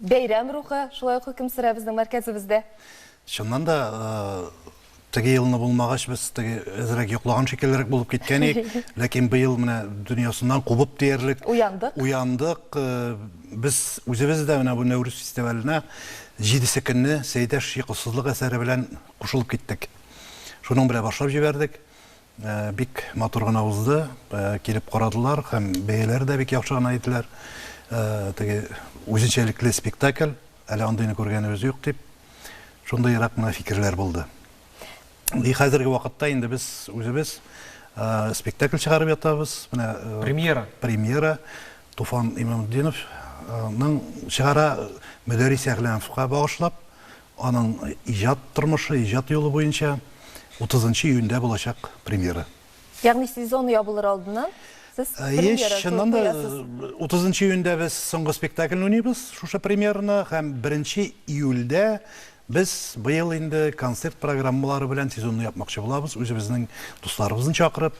Бәйрәм рухы шулай ук хөкем сөрә безнең мәркәзебездә. Чыннан да, теге елны булмагач, без теге әзрәк йоклаган шикеллерәк булып киткән идек. Ләкин быел менә дөньясыннан кубып диярлек. Уяндык. Уяндык. Без үзебез дә менә бу Нәүрүз фестиваленә җидесе көнне Сәйдәш йокысызлык әсәре белән кушылып киттек. Шуның белән башлап җибәрдек. Бик матур гына узды, килеп карадылар һәм бәяләре дә бик яхшы гына иделәр. Теге үзенчәлекле спектакль, әле андыйны күргәнебез юк дип, шундыйрак кына фикерләр булды. И хәзерге вакытта инде без үзебез спектакль чыгарып ятабыз. Менә премьера. Премьера Туфан Имамтдиновның чыгара Мөдәррис Әгъләмовка багышлап, Аның иҗат тормышы, иҗат юлы буенча утызынчы июньдә булачак премьера. Ягъни сезон ябылыр алдыннан сез премьера куясыз? Еш, чыннан да, утызынчы июньдә без соңгы спектакльне уйныйбыз, шушы премьераны, һәм беренче июльдә без быел инде концерт программалары белән сезонны япмакчы булабыз, үзебезнең дусларыбызны чакырып,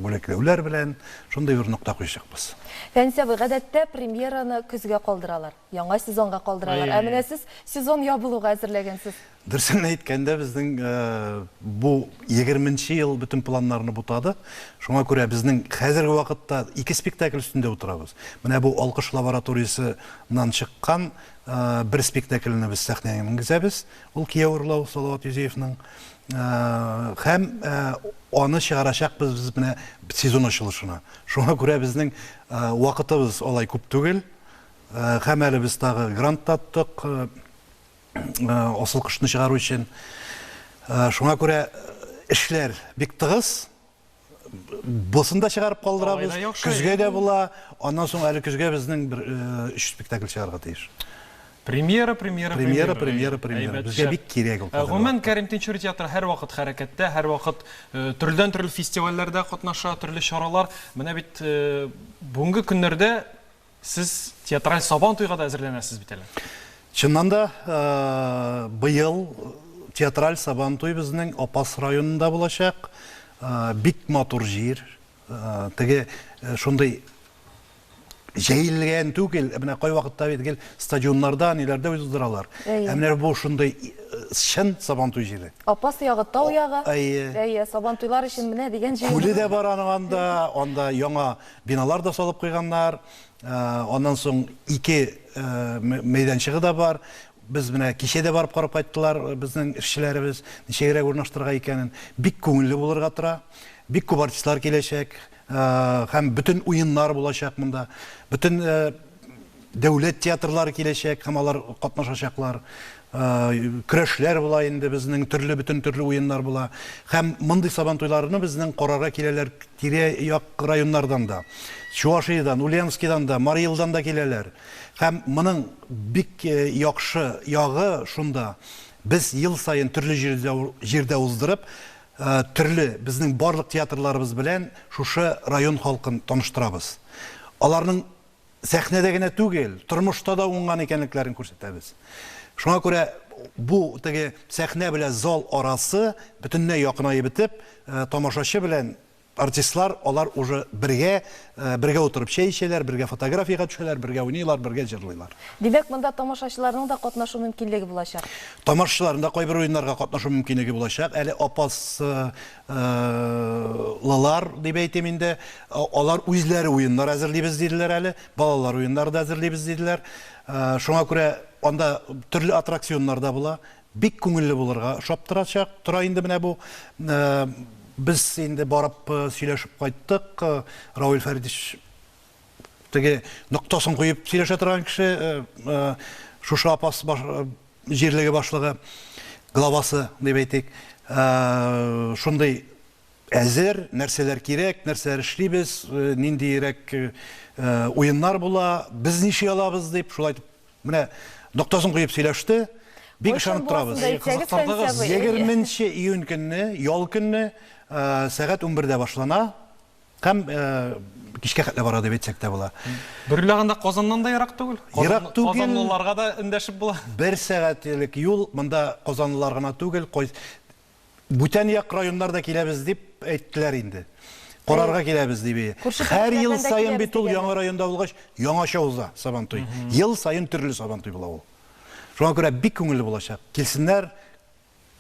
бүләкләүләр белән шундый бер нокта куячакбыз. Фәнис абый, гадәттә премьераны көзгә калдыралар. Яңа сезонга калдыралар. Ә менә сез сезон ябылуга әзерләгәнсез. Дөресен әйткәндә, безнең бу егерменче ел бөтен планнарны бутады. Шуңа күрә безнең хәзерге вакытта ике спектакль өстендә утырабыз. Менә бу Алкыш лабораториясеннән чыккан бер спектакльне без сәхнәгә менгезәбез. Ул Кияү урлау Салават Юзеевның. Һәм аны чыгарачакбыз без менә сезон ачылышына. Шуңа күрә безнең вакытыбыз алай күп түгел. Һәм әле без тагы грант таптык асыл кошны чыгару өчен. Шуңа күрә эшләр бик тыгыз. Бусын да чыгарып калдырабыз. Көзгә дә була. Аннан соң әле көзгә безнең бер өч спектакль чыгарга тиеш. Премьера, премьера, премьера. Премьера, премьера. Безгә бик кирәк ул. Гомумән, Кәрим Тинчури театры һәрвакыт хәрәкәттә, һәрвакыт төрледән-төрле фестивальләрдә катнаша, төрле чаралар. Менә бит бүгенге көннәрдә Сез театраль Сабан туйга да әзерләнәсез бит әле. Чыннан да, быел театраль Сабан туй безнең Апас районында булачак. Бик матур җир. Теге шундый җәелгән түгел, менә кайвакытта бит гел стадионнарда, ниләрдә уздыралар. Ә менә бу шундый чын Сабантуй җире. Апас ягы, тау ягы. Әйе. Әйе, Сабантуйлар өчен менә дигән җир. Күле дә бар аның анда, анда яңа Биналар да салып куйганнар. Аннан соң ике мәйданчыгы да бар. Без менә кичә дә барып карап кайттылар безнең эшчеләребез, ничегрәк урнаштырырга икәнен. Бик күңелле булырга тора. Бик күп артистлар киләчәк һәм бөтен уеннар булачак монда. Бөтен Дәүләт театрлары киләчәк һәм алар катнашачаклар. Көрәшләр була инде безнең, төрле бөтен төрле уеннар була. Һәм мондый Сабантуйларны безнең карарга киләләр тирә-як районнардан да. Чуашиядән, Ульяновскидан да, Марий Илдан да киләләр. Һәм моның бик яхшы ягы шунда, без ел саен төрле җирдә уздырып, төрле безнең барлык театрларыбыз белән шушы район халкын таныштырабыз. Аларның сәхнәдә генә түгел, тормышта да уңган икәнлекләрен күрсәтәбез. Шуңа күрә бу теге сәхнә белән зал арасы бөтенләй якынаеп бетеп, э, тамашачы белән артистлар алар уже бергә э, бергә утырып чәй эчәләр, бергә фотографиягә төшәләр, бергә уйныйлар, бергә җырлыйлар. Димәк, монда тамашачыларның да катнашу мөмкинлеге булачак. Тамашачыларның да кайбер уеннарга катнашу мөмкинлеге булачак. Әле Апас э, лылар дип әйтим инде, алар үзләре уеннар әзерлибез диделәр әле, балалар уеннары да әзерлибез диделәр. Шуңа күрә анда төрле аттракционнар да була. Бик күңелле булырга ошап торачак. Тора инде менә бу. Без инде барып сөйләшеп кайттык. Равил Фәритович теге ноктасын куеп сөйләшә торган кеше шушы апас җирлеге башлыгы главасы дип әйтик шундый әзер нәрсәләр кирәк нәрсәләр эшлибез ниндиерәк уеннар була без ничек алабыз дип шулай менә ноктасын куеп сөйләште бик ышанып торабыз егерменче июнь көнне ял көнне сәгать унбердә башлана Һәм кичкә хәтле бара дип әйтсәк тә була. Бер уйлаганда Казаннан да ерак түгел. Ерак түгел. Казанлыларга да эндәшеп була. Бер сәгать элек юл, монда казанлылар гына түгел, бүтән як районнар да киләбез дип әйттеләр инде. Карарга киләбез дип. Һәр ел саен бит ул яңа районда булгач, яңача уза Сабантуй. Ел саен төрле Сабантуй була ул. Шуңа күрә бик күңелле булачак. Килсеннәр.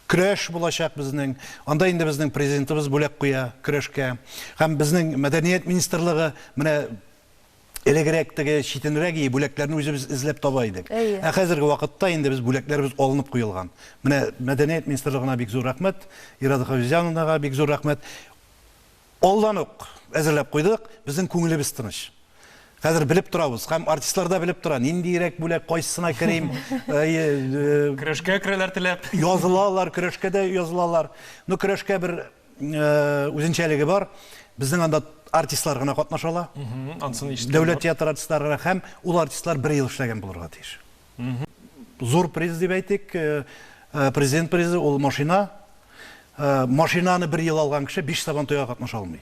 Көрәш булачак безнең. Анда инде безнең Президентыбыз бүләк куя көрәшкә. Һәм безнең Мәдәният министрлыгы менә элегрәк теге читенрәк ие бүләкләрне үзебез эзләп таба идек. Ә хәзерге вакытта инде без бүләкләребез алынып куелган. Менә Мәдәният министрлыгына бик зур рәхмәт, Ирада Хафизяновнага бик зур рәхмәт. Алдан ук әзерләп куйдык, безнең күңелебез тыныч. Хәзер белеп торабыз һәм артистлар да белеп тора, ниндиерәк бүләк, кайсысына керим. Көрәшкә керәләр теләп. Язылалар, көрәшкә дә язылалар. Ну, көрәшкә бер үзенчәлеге бар. Безнең анда артистлар гына катнаша ала. Анысын ишеткән. Дәүләт театры артистлары гына һәм ул артистлар бер ел эшләгән булырга тиеш. Зур приз дип әйтик, президент призы ул машина. Машинаны бер ел алган кеше биш сабантуйга катнаша алмый.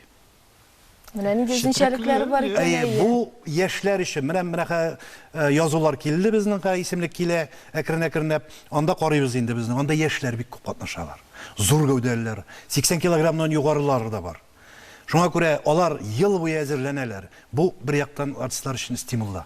Менә нинди үзенчәлекләре бар икән. Әйе, бу яшьләр өчен. Менә менә язулар килде безнең хәзер исемлек килә, әкрен-әкренләп. Анда карыйбыз инде безнең. Анда яшьләр бик күп катнашалар. Зур гәүдәлеләр, 80 килограммнан югарылары да бар. Шуңа күрә алар ел буе әзерләнәләр. Бу бер яктан артистлар өчен стимул да.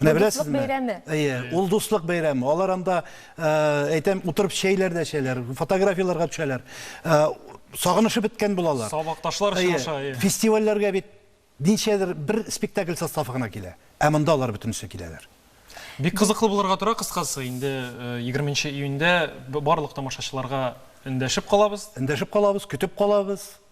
Менә беләсезме? Бәйрәме. Әйе, ул дуслык бәйрәме. Алар анда, э, әйтәм, утырып чәйләр дә чәйләр, фотографияләргә төшәләр. Э, сагынышып беткән булалар. Сабакташлар очраша. Фестивальләргә бит ничәдер бер спектакль составы гына килә. Ә монда алар бөтенесе киләләр. Бик кызыклы булырга тора кыскасы. Инде 20 э, июньдә барлык тамашачыларга эндәшеп калабыз. Эндәшеп калабыз, көтеп калабыз.